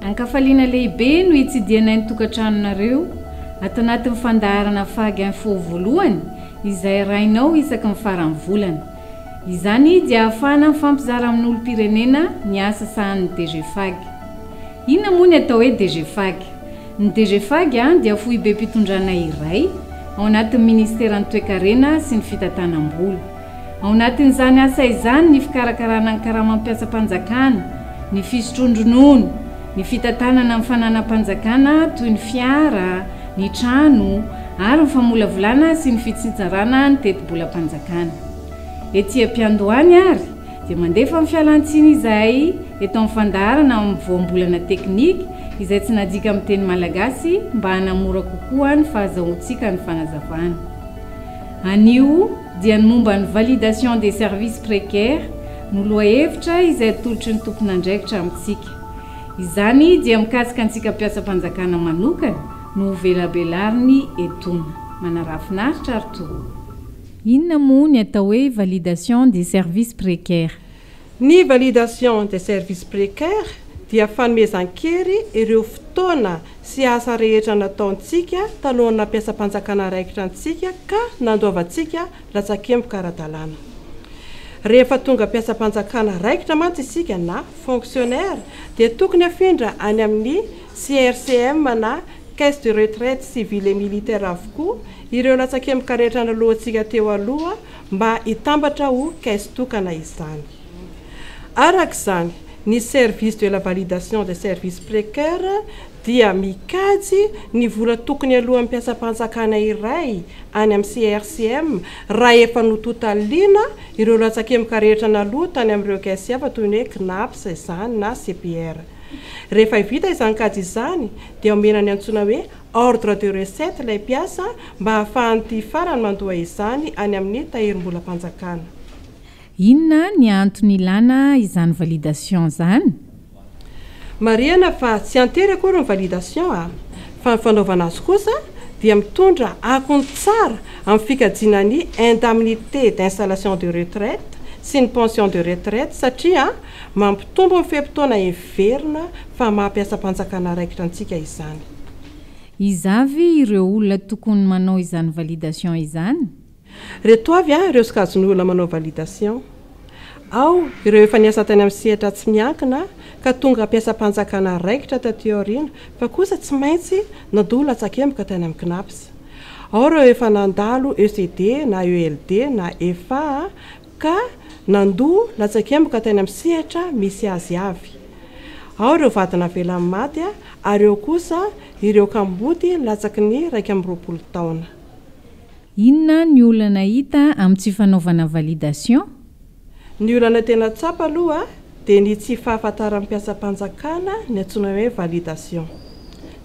Ankafaliana lehibe no hitsidihanay ny tokantranonareo ato anatin'ny fandaharana Fag Info voalohany izay arahinao isaky ny faran'ny volana. Izany dia ahafahana mifampizara amin'olom-pirenena ny asa sahanin'ny DG Fag. Inona moa ny atao hoe DGFAG? Ny DGFAG dia foibem-pitondrana iray ao anatin'ny Ministeran'ny Toekarena sy ny Fitantanam-bola. Ao anatin'izany asa izany ny fikarakarana ny karamam-piatsam-panjakana, ny fisotroan-dronono, ny fitantanana ny fananam-panjakana toy ny fiara, ny trano ary ny famolavolana sy ny fitsitsarana ny tetibolam-panjakana. Ety am-piandohany ary dia mandefa ny fialan-tsiny izahay eto amin'ny fandaharana amin'ny voambolana teknika izay tsy najika amin'ny teny malagasy mba hanamora kokoa ny fahazahoantsika ny fanazavana. Anio dia ny momba ny validation des services précaires no lohahevitra izay atolotry ny tompon'andraikitra amintsika. Izany dia mikasika antsika mpiasam-panjakana manokana no hovelabelariny etona. Manarafinaritra ry toa. Inona moa ny atao hoe validation des services précaires? Ny validation des services précaires dia fanomezan-kery ireo fotoana sy asa rehetra nataontsika talohan'ny nampiasam-panjakana raikitra antsika ka nandoavantsika latsakemboka ara-dalàna. Rehefa tonga mpiasam-panjakana raikitra mantsy isika na fonctionnaire dia tokony afindra any amin'ny CRCM na caisse de retraite civile et militaire avokoa ireo latsakemboka rehetra naloantsika teo aloha mba hitambatra ho caisse tokana izany. Araka izany, ny service de la validation des services précaires dia mikajy ny vola tokony aloan'ny mpiasam-panjakana iray any amin'ny CRCM raha efa nototaliana ireo latsakemboka rehetra naloa tany amin'ireo caisse hafa toy ny hoe CNAPS izany na CPR. Rehefa vita izany kajy izany dia omena ny antsoina hoe ordre de recette ilay mpiasa mba hahafahan'ity farany mandoa izany any amin'ny tahirimbolam-panjakana. Inona ny antony ilana izany validation izany? Marihana fa tsy an-tery akory ny validation fa ny fanaovana azy kosa dia mitondra akony tsara amin'ny fikajiana ny indemnité d'installation de retraite sy ny pension de retraite satria Mampitombo ny fe-potoana heverina fa maha mpiasam-panjakana raikitra antsika izany. Iza avy ireo olona tokony manao izany validation izany? Reto avy ireo sokajin'ny olona manao validation. Ao ireo efa niasa tany amin'ny sehatra tsy miankina ka tonga mpiasam-panjakana raikitra taty aoriana fa kosa tsy maintsy nandoa latsakemboka tany amin'ny Cnaps. Ao ireo efa nandalo ECD na ELD na efa Ka nandoa latsakemboka tany amin'ny sehatra misy azy avy. Ao ireo vady navelan'ny maty ary eo kosa ireo kamboty latsaky ny iraika amby roapolo taona. Inona ny olana hita amin'ny tsy fanaovana validation? Ny olana tena tsapa aloha dia ny tsy fahafantaran'ny mpiasam-panjakana ny antsoina hoe validation.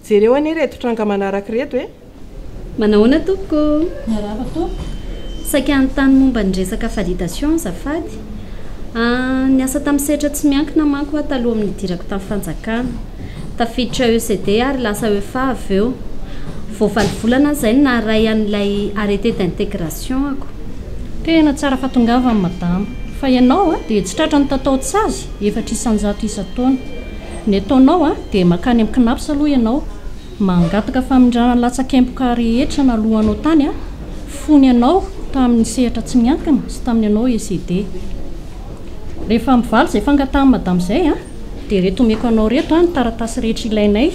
Jereo anie ireto tranga manaraka ireto e! Manahoana tompoko o! Miarahaba tompoko! Saika hanontany momba ny resaka validation azafady. Aah, niasa tamin'ny sehatra tsy miankina manko aho taloha amin'ny nidirako tamin'ny fanjakana. Tafiditra ECD ary lasa EFA avy eo. Vao valo volana izay no naharay an'ilay arrêté d'intégration ako. Tena tsara fa tongava madama. Fa ianao a dia tsy tratra ny tataon-tsazy efatra isan-jato isan-taona. Ny ataonao a dia makany amin'ny Cnaps aloha ianao, mangataka famindràna ny latsakemboka rehetra naloanao tany a, fony ianao tamin'ny sehatra tsy miankina sy tamin'ny anao ECD. Rehefa mivaly izay fangatahany madama izay a. Dia reto omeko anao reto ny taratasy rehetra ilainay,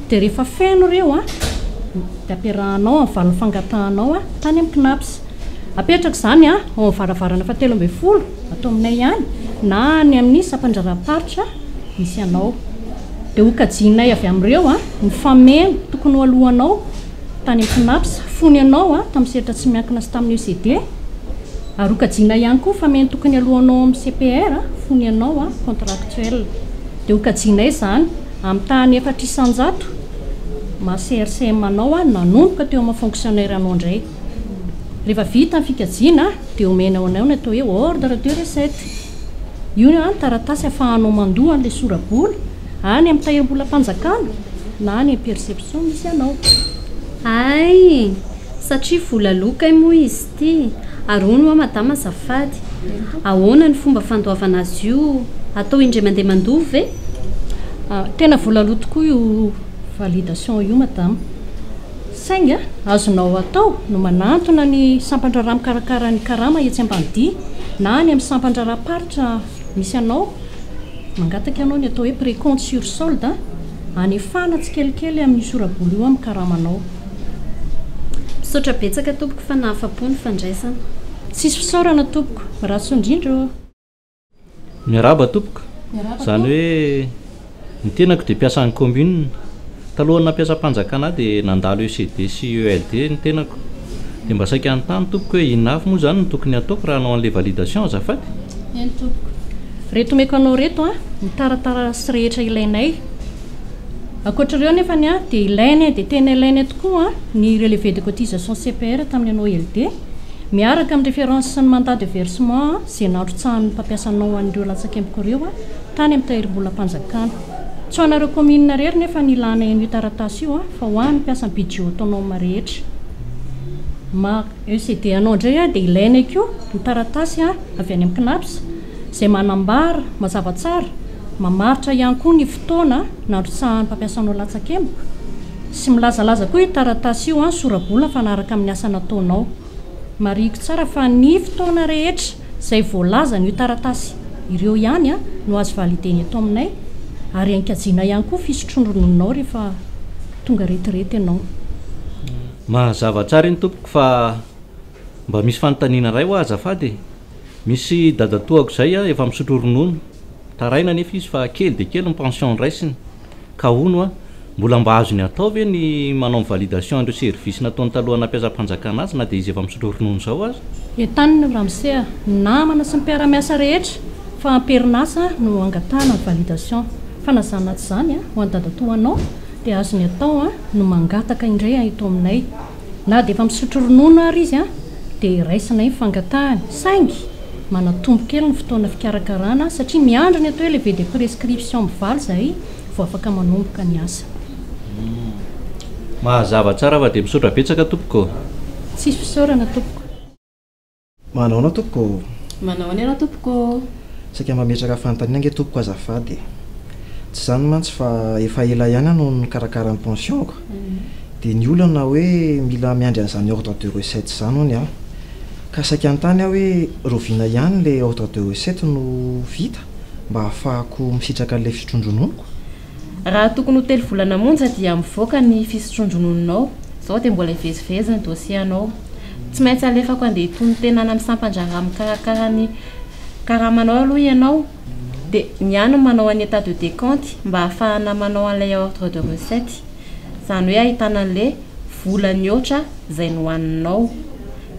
dia rehefa feno ireo dia ampiarahanao amin'ny valiny fangatahanao tany amin'ny Cnaps. Apetraka izany ao amin'ny varavarana fahatelo ambin'ny folo ato aminay ihany na any amin'ny sampandraharaham-paritra misy anao. Dia hokajianay avy amin'ireo ny fameno tokony ho aloanao tany amin'ny Cnaps fony ianao tamin'ny sehatra tsy miankina sy tamin'ny ECD. Ary ho kajiana ihany koa fa mety tokony alohanao amin'ny CPR fony ianao contractuel. Dia ho kajianay izany amin'ny tahan'ny efatra isan-jato maha CRCM anao nanomboka teo amin'ny fonctionnaire anao indray. Rehefa vita ny fikajiana dia omenao anao ny atao hoe ordre de recette. Io no taratasy ahafahanao mandoa an'ilay sora-bola any amin'ny tahirim-bolam-panjakana na any amin'ny perception misy anao. Hay! Satria vola loha kay moa izy ity? Ary hono hoa madama azafady, ahoana ny fomba fandoavana azy io? Atao indray mandeha mandoa ve? Tena vola loha tokoa io validation io madama. Saingy azonao atao no manantona ny sampandraharaha mikarakara ny karama etsy Ambanidia na any amin'ny sampandraharaham-paritra misy anao, mangataka ianao ny atao hoe précompte sur solde, hanefana tsikelikely amin'io sora-bola io amin'ny karamanao. Misaotra betsaka tompoko fa nahafapo ny fandraisana. Tsisy fisaorana tompoko, rasoa indrindra ô. Miarahaba tompoko, izany hoe ny tenako dia mpiasan'ny commune, talohan'ny nampiasam-panjakana ahy dia nandalo ECD sy ELD ny tenako, dia mba saika hanontany tompoko hoe inona avy moa izany no tokony hataoko raha hanao an'ilay validation azafady? Eny tompoko, reto omeko anao reto an, ny taratarasy rehetra ilainay. Ankoatra ireo nefany dia ilaina dia tena ilaina tokoa ny relevé de cotisation CPR tamin'ny anao LD miaraka amin'ny référence sy ny mandat de versement izay nanrotsahan'ny mpampiasa anao an'ireo latsakemboko ireo tany amin'ny tahirimbolam-panjakana. Tsy ho anareo commune irery nefa ny ilana en'io taratasy io fa ho an'ny mpiasan'ny budget autonome rehetra. Mar. ECD anao indray dia ilaina koa ny taratasy avy any amin'ny CNAPS izay manambara mazava tsara, mamaritra ihany koa ny fotoana nandrotsahan'ny mpampiasanao latsakemboka sy milazalaza koa io taratasy io ny sora-bola mifanaraka amin'ny asa nataonao. Marihiko tsara fa ny fotoana rehetra izay voalazan'io taratasy ireo ihany no azo valider-na eto aminay ary ankajiana ihany koa ny fisotroan-ronononao rehefa tonga retirety ianao. Mazava tsara iny tompoko fa mba misy fanontaniana iray hoa azafady e! Misy dadatoako izay a, efa misotro ronono, taraina anefa izy fa kely dia kely ny pension raisiny, ka hono a, mbola mba azony atao ve ny manao ny validation an'ireo services nataony talohan'ny nampiasam-panjakana azy na dia izy efa misotro ronono izao aza? Entanina io ramose a, ny namana sy ny mpiara-miasa rehetra fa am-perinasa no angatahana ny validation, fa na izany na tsy izany a, ho an'i dadatoa anao dia azony atao a, no mangataka indray a eto aminay. Na dia efa misotro ronono àry izy dia iraisana iny fangatahany, saingy manatombo kely ny fotoana fikarakarana satria miandry ny atao hoe lever de prescription mivaly izahay vao afaka manomboka ny asa. Mazava tsara fa dia misaotra betsaka tompoko. Tsisy fisaorana tompoko. Manao ahoana tompoko ô? Manao ahoana ianao tompoko ô? Saika mametraka fanontaniana ange tompoko azafady e! Tsy izany mantsy fa efa ela ihany aho no nikarakara ny pension-ko dia ny olana hoe mila miandry an'izany ordre de recette izany hono aho. Ka saika hanontany aho hoe rahoviana ihany ilay ordre de recette no vita mba hahafahako misitraka an'ilay fisotroan-drononoko? Raha tokony ho telo volana monja dia mivoaka ny fisotroan-dronono'nao, izao dia mbola hivezivezy ny dossier-anao. Tsy maintsy alefako handeha hitony tena any amin'ny sampan-draharaha mikarakara ny karamanao aloha ianao, dia ny any no manao an'i état de décompte mba hahafahana manao an'ilay ordre de recette, izany hoe ahitana an'ilay vola nihoatra izay nohaninao.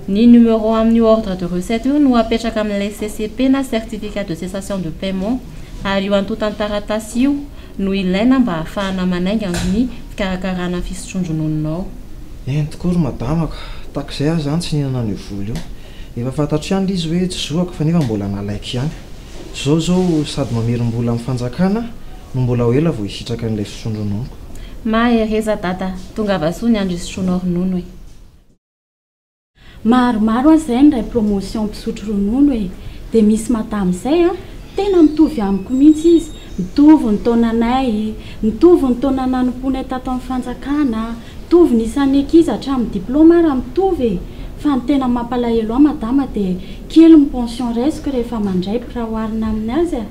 Ny numéro amin'io ordre de recette io no apetraka amin'ilay CCP na certificat de cessation de paiement. ary io antontan-taratasy io no ilaina mba hahafahana manainga ny fikarakarana ny fisotroan-dronononao. Eny tokoa ry madama ka! Tahaka izay aho izany tsy nihinana an'io vola io. Efa fantatro ihany ilay izy hoe tsy zoako fa nefa mbola nalaiko ihany. Izao izao sady mamerim-bola amin'ny fanjakana no mbola ho ela vao hisitraka an'ilay fisotroan-drononoko. Mahereza dada, tongava soa ny andro hisotroanao ronono e! Maromaro aza zay miray promotion mpisotro ronono e! Dia misy madama zay an! Tena mitovy amiko mihintsy izy! Mitovy ny taonanay, mitovy ny taona nanompoanay tato amin'ny fanjakana, mitovy ny isan'ny ankizy hatramin'ny diploma ara mitovy e! Fa ny tena mampalahelo ahy madama dia kely ny pension raisiko rehefa mandray raha oharina amin'ny azy a!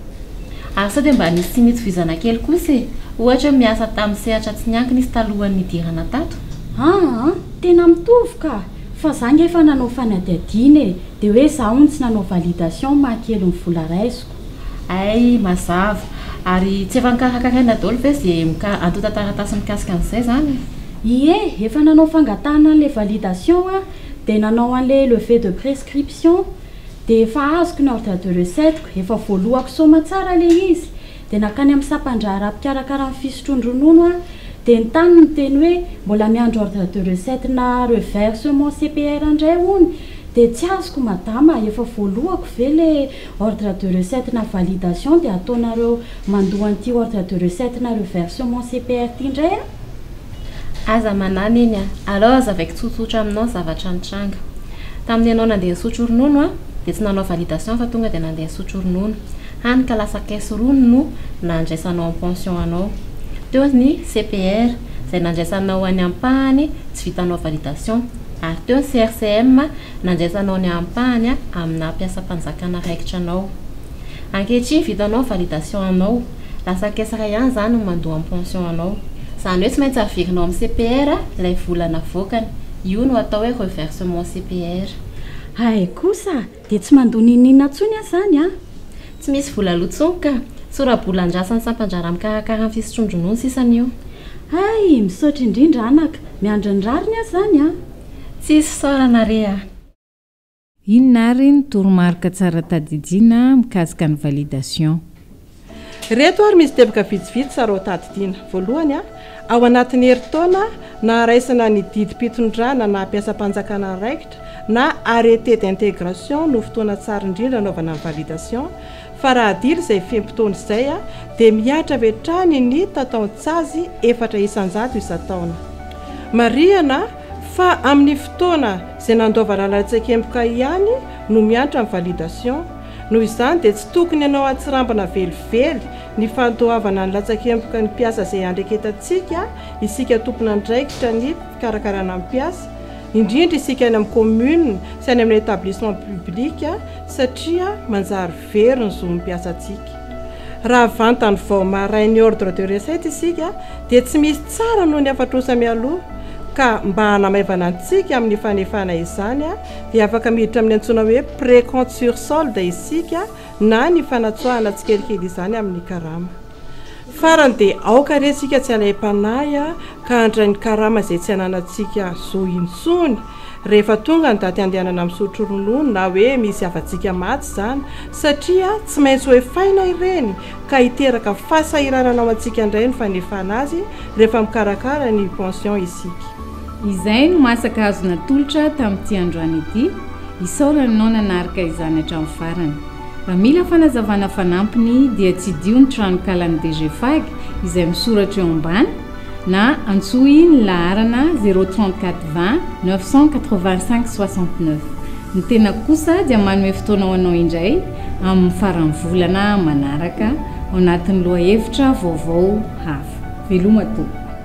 Ary sao dia mba nisy tsy nitsofizana kely kosa e! Ohatra hoe miasa tamin'ny sehatra tsy niankina izy talohan'ny nidirana tato? Aa! Tena mitovy ka! Fa za nge efa nanao fanadihadiana e! Dia hoe za hono tsy nanao validation maha kely ny vola raisiko. Hay! Mazava! Ary tsy efa nokarakaraina daholo ve ze mika antontan-taratasy mikasika an'izay zany e? Ie! Efa nanao fangatahana an'le validation aho dia nanao an'le levée de prescription. dia efa azoko ny ordre de recette-ko, efa voalohako soma tsara ilay izy, dia nankany amin'ny sampandraharaha mpikarakara ny fisotroan-dronono aho, dia ny tany niteny hoe mbola miandry ordre de recette-na revers sur mon CPR indray hono, dia tsy azoko madama, efa voalohako ve ilay ordre de recette-na validation dia ataonareo mandoa an'ity ordre de recette-na revers sur mon CPR ity indray an? Aza manahy Neny a! Aleo azavaiko tsotsotra aminao zavatra nitranga. Tamin'ny ianao nandeha nisotro ronono an, dia tsy nanao validation fa tonga dia nandeha nisotro ronono. Hany ka lasa caisse rony no nandraisanao ny pension anao. Teo ny CPR izay nandraisanao ny ampahany tsy vitanao validation. Ary teo ny CRCM nandraisanao ny ampahany amina mpiasam-panjakana raikitra anao. Ankehitriny vitanao validation anao, lasa caisse iray ihany izany no mandoa ny pension anao. Izany hoe tsy maintsy averinao amin'ny CPR ilay vola navoakany. Io no atao hoe reversement CPR. Hay kosa dia tsy mandoa n'inon'inona intsony aho izany an! Tsy misy vola aloha intsony ka! Sora-bola andrasan'ny sampan-draharaha mikarakara ny fisotroan-dronono sisa ny eo. Hay! Misaotra indrindra anaka! Miandry ny rariny aho izany an! Tsisy fisaorana re a! Inona ary ny toromarika tsara tadidiana mikasika ny validation? Ireto ary misy teboka vitsivitsy tsara ho tadidiana. Voalohany, ao anatin'ny herintaona naharaisana ny didim-pitondrana na mpiasam-panjakana andraikitra na arrêté d'intégration no fotoana tsara indrindra anaovana ny validation fa raha adila izay fe-potoana izay dia mihatra avy hatrany ny tataon-tsazy efatra isan-jato isan-taona. Marihana. Fa amin'ny fotoana izay nandoavana an'ilay tsekemboka ihany no miantra ny validation. Noho izany dia tsy tokony anao hatsirambina velively ny fandoavana ny latsakemboka ny mpiasa izay andreketantsika isika tompon'andraikitra ny fikarakarana ny mpiasa, indrindra isika any amin'ny commune sy any amin'ny établissement public satria manjary. very ny zon'ny mpiasantsika. Raha vantany vao marin ny ordre de recette isika dia tsy misy tsara noho ny afatrosa mialoha ka mba hanamaivana antsika amin'ny fanefana izany dia afaka miditra amin'ny antsoina hoe précompte sur solde isika na ny fanatsoahana tsikelikely izany amin'ny karama. Farany dia aoka re tsika tsy alaim-panahy ka handray ny karama izay tsy ananantsika zo intsony rehefa tonga ny daty handehanana misotro ronono na hoe misy havantsika maty izany satria tsy maintsy ho efaina ireny ka hiteraka fahasahiranana ho antsika indray ny fanefana azy rehefa mikarakara ny pension isika. Izay no masaka azo natolotra tamin'ity androany ity, isaorana anao nanarka izany hatramin'ny farany. Raha mila fanazavana fanampiny dia tsidiho ny tranonkalan'ny DGFAG izay misoratra eo ambany na antsoy ny laharana 034 20 985 69. Ny tenako kosa dia manome fotoana ho anao indray amin'ny faran'ny volana manaraka ao anatin'ny lohahevitra vaovao hafa. Veloma tompoko.